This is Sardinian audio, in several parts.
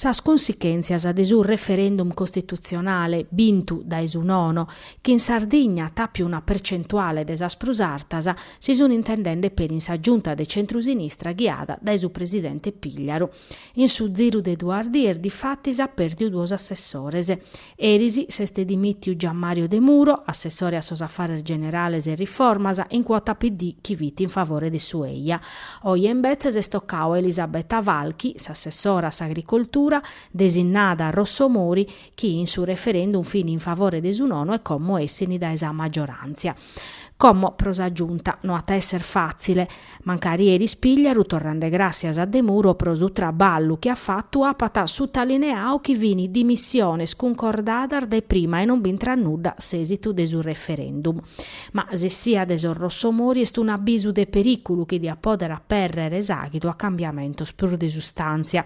sas cunsichèntzias de su referendum costitutzionale bintu dae su nono, chi in Sardigna at àpiu una percentuale de sas prus artas, si sunt intendende peri in sa Giunta de centrusinistra ghiada dae su presidente Pigliaru. In su ziru de duas dies difatis at pèrdiu duos assessores. Eris s'est dimìtiu Gianmario Demuro, assessore a sos afares generales e riformas, in cuota PD chi fit in favore de su eja. Oje imbetzes est tocau a Elisabetta Falchi, s'assessora a s'agricoltura, desinnada a Rossomori, chi in su referendum fin in favore de su nono e como essini dae sa maggioràntzia. Como pro sa Giunta no at a esser fàtzile, mancari eris Pigliaru torrende gràssias a Demuro pro su traballu chi at fatu apat sutalineau chi fin dimissiones cuncordadas dae prima e non b'intrat nudda s'èsitu de su referendum. Ma s'essia de sos Rossomori est un'abisu de perìculu chi diat pòdere apèrrere s'àghidu a cambiamentos prus de sustàntzia.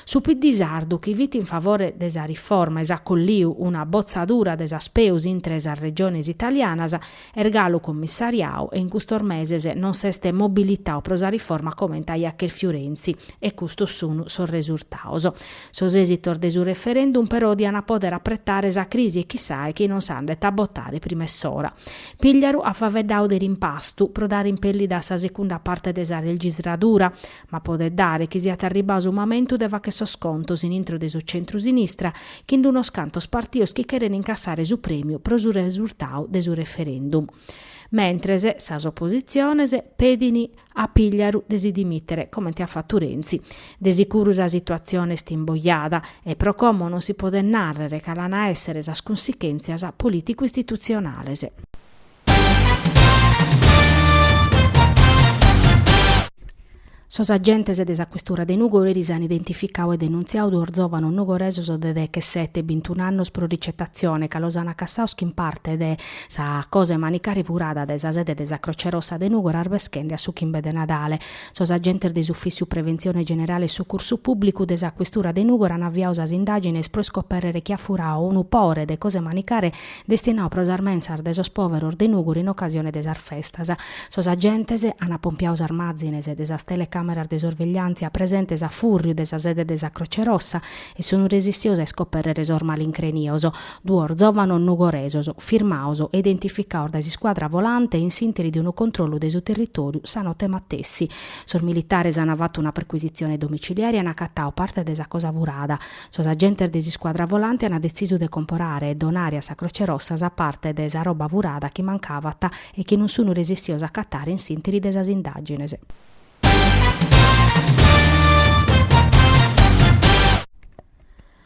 Su PD sardu chi fit in favore de sa riforma e s'at colliu una botzadura de sas peus intre sas regiones italianas est galu commissariau e in custos meses non s'est mobilitau pro sa riforma comente aiat chèrfiu Renzi e custos sunu sos resurtaos. Sos èsitos de su referendum però diana poder apretare sa crisi e chissai chi non s'andet a botare prima 'e s'ora. Pigliaru at faveddau de rimpastu pro dare impèllida a sa secunda parte de sa legisladura Ma podet dare chi siat arribau su mamentu de fàcher sos contos in intro de su centru-sinistra chin d'unos cantos partios chi cheren incassare su prèmiu pro su resurtau de su referendum. Mentres, sas oppositziones pedin a Pigliaru de si dimìtere, comente at fatu Renzi. De sicuru sa situatzione est imbojada e pro como non si podet nàrrere cale an a èssere sas cunsichèntzias polìticu-istitutzionales. Sos agentes de sa questura de Nùgoro eris an identificau e denuntziau duos zòvanos nugoresos de dechesete e bintun'annos pro ricetatzione ca los an acassaos chin parte de sa cosa 'e manicare furada dae sa sede de sa Croce Rossa de Nùgoro arbeschende a su chimbe de Nadale. Sos agentes de s'Ufìssiu Preventzione Generale e Sucursu Pùblicu de sa questura de Nùgoro an aviau sas indàgines pro iscopèrrere chi at furau unu pore de cosa 'e manicare destinau pro sas mensas de sos pòveros de Nùgoro in ocasione de sas festas. Sos agentes an apompiau sas màzines de sas telecàmeras de sorvegliàntzia presentes a fùrriu de sa sede de sa Croce Rossa e sunt resistios a iscopèrrere sos malincrenios, duos zòvanos nugoresos, firmaos e identificaos dae s'iscuadra volante in s'ìnteri de unu controllu de su territòriu sa note matessi. Sos militares an fatu una percuisitzione domiciliare e an acatau parte de sa cosa furada, Sos agentes de s'iscuadra volante an detzisu de comporare e donare a sa Croce Rossa sa parte de sa roba furada chi mancavat e chi non sun resistios a acatare in s'interi de sas indagines.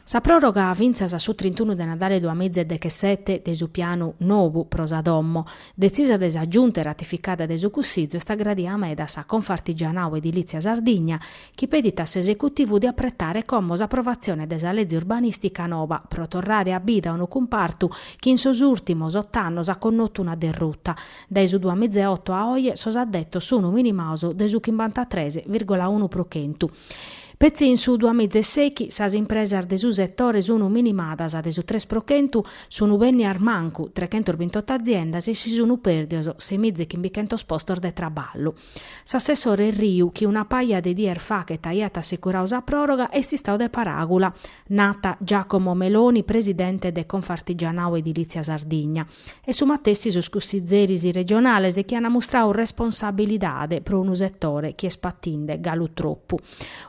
Sa proroga fintzas a su trintunu de Nadale duamiza e dechesete de su pianu nobu pro sa domo, detzisa de sa Giunta e ratificada de su Cussizu, est aggradia meda a sa Confartigianau Edilizia Sardigna, chi pedit a s'esecutivu de apretare como s'aprovatzione de sa leze urbanìstica noba pro torrare a bida unu cumpartu chi in sos ùrtimos ot'annos at connotu una derruta. Dae su duas miza e oto a oe sos addetos sun minimaos de su chimbantatres virgola unu pro chentu. Petzi in su duas miza e sèighi sas impresas de su setore sun minimadas de su tres pro chentu, sun bènnias mancu trechentos bintot'aziendas e si sun pèrdios sei miza e chimbichentos postos de traballu. S'assessore Erriu, chi una paja de dies fachet aiat assicurau sa pròroga, est istau de paràgula, nat Giacomo Meloni, presidente de Confartigianau Edilizia Sardigna. E su matessi sos cussizeris regionales chi an mustrau responsabilidade pro unu setore chi est patinde galu tropu.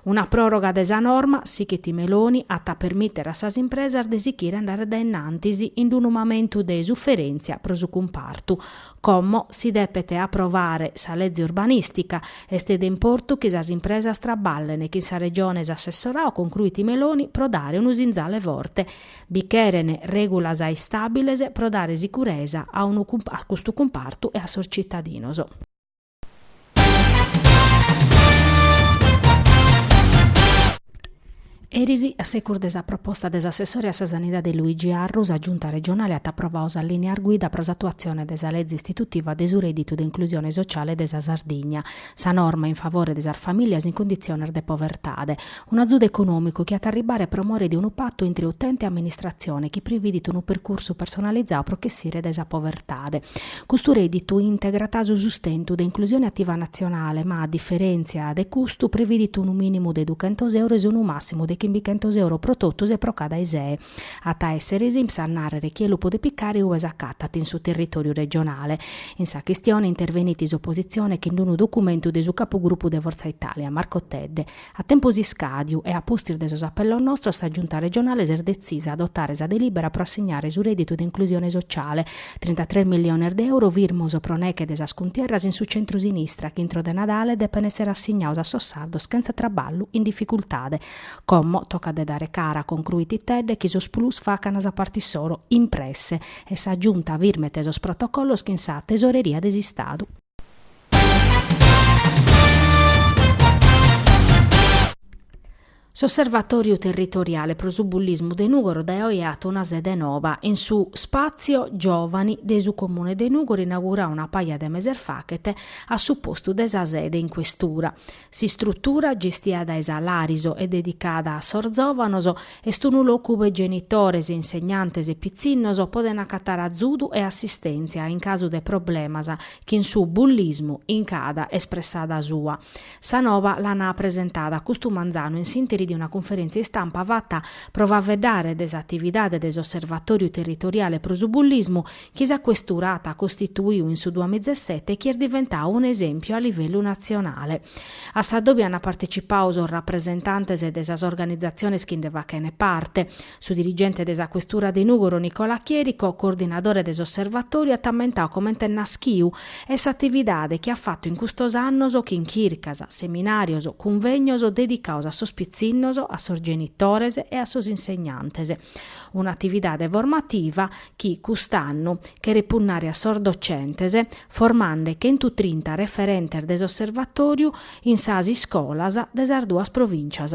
Una pròroga de sa norma, sichit Meloni, at a permìtere a sas impresas de sichire a andare dae in antis in unu mamentu de suferèntzia pro su cumpartu, Como si depet aprovare sa leze urbanìstica, est de importu chi sas impresas traballen chin sa Regione s'assessorau concruit Meloni pro dare unu sinzale forte. Bi cheren règulas istàbiles pro dare sicuresa a unu a custu cumpartu e a sos tzitadinos. Eris, a secus de sa proposta de s'assessore a sa Sanidade Luigi Arru, sa Giunta regionale at aprovau sas lìneas guida pro s'atuatzione de sa leze istitutiva de su rèdditu de inclusione sociale de sa Sardigna, sa norma in favore de sas famìlias in conditziones de povertade, Un'azudu econòmicu chi at a arribare pro more de unu patu intre utente e amministratzione chi prividit unu percursu personalizau pro ch'essire dae sa povertade. Custu rèdditu integrat su sustentu de inclusione ativa natzionale ma, a diferèntzia de custu, prividit unu mìnimu de duchentos euros e unu màssimu de chimbichentos euro pro totus e pro cada ISEE. At a èssere s'INPS a nàrrere chie lu podet picare ue s'acatat in su territòriu regionale. In sa chistione intervenit s'opositzione chin unu documentu de su capugrupu de Forza Italia, Marco Tedde, A tempus iscàdiu e a pustis de sos apellos nostros sa Giunta regionale s'est detzisa a adotare sa delìbera pro assignare su rèdditu de inclusione sociale, trintatres milliones de euro firmos pro neche de sas cuntierras in su centru-sinistra chi intro de Nadale depen èssere assignaos a sos sardos chentza traballu in dificultade. Como tocat de dare cara, concruit Tedde, chi sos PLUS facan sa parte issoro, in presse, e sa Giunta firmet sos protocollos chin sa Tesoreria de s'Istadu. S'Osservatòriu Territoriale pro su Bullismu de Nùgoro dae oe at a àere una sede nova, in su Spàtzio Giòvani de su Comune de Nùgoro inauguradu una paja de meses faghet a su postu de sa sede in questura. S'istrutura, gestia dae sa Lariso e dedicada a sos zòvanos, est unu locu ube genitores, insegnantes e pitzinnos podent acatare azudu e assistèntzia in casu de problemas chin su bullismu, in cada espressada sua. Sa Nova l'an apresentada custu manzanu in s'interi de una cunferèntzia istampa fata pro faeddare de s'atividade de s'Osservatòriu Territoriale pro su Bullismu chi sa Questura at costituiu in su duamizesete e chi est diventau un'esèmpiu a livellu natzionale. A sa dobi ant partecipau sos rapresentantes de sas organizatziones chi nde fachent parte. Su dirigente de sa Questura de Nùgoro Nicola Chierico, coordinadore de s'osservatòriu, at ammentau comente est naschiu e s'atividade chi at fatu in custos annos chin chircas, seminàrios, cunvègnos dedicaos a sos pitzinnos, a sos genitores e a sos insegnantes. Un'atividade formativa chi, cust'annu, cheret punnare a sos docentes, formande chentutrinta referentes de s'Osservatòriu in sas iscolas de sas duas provìncias.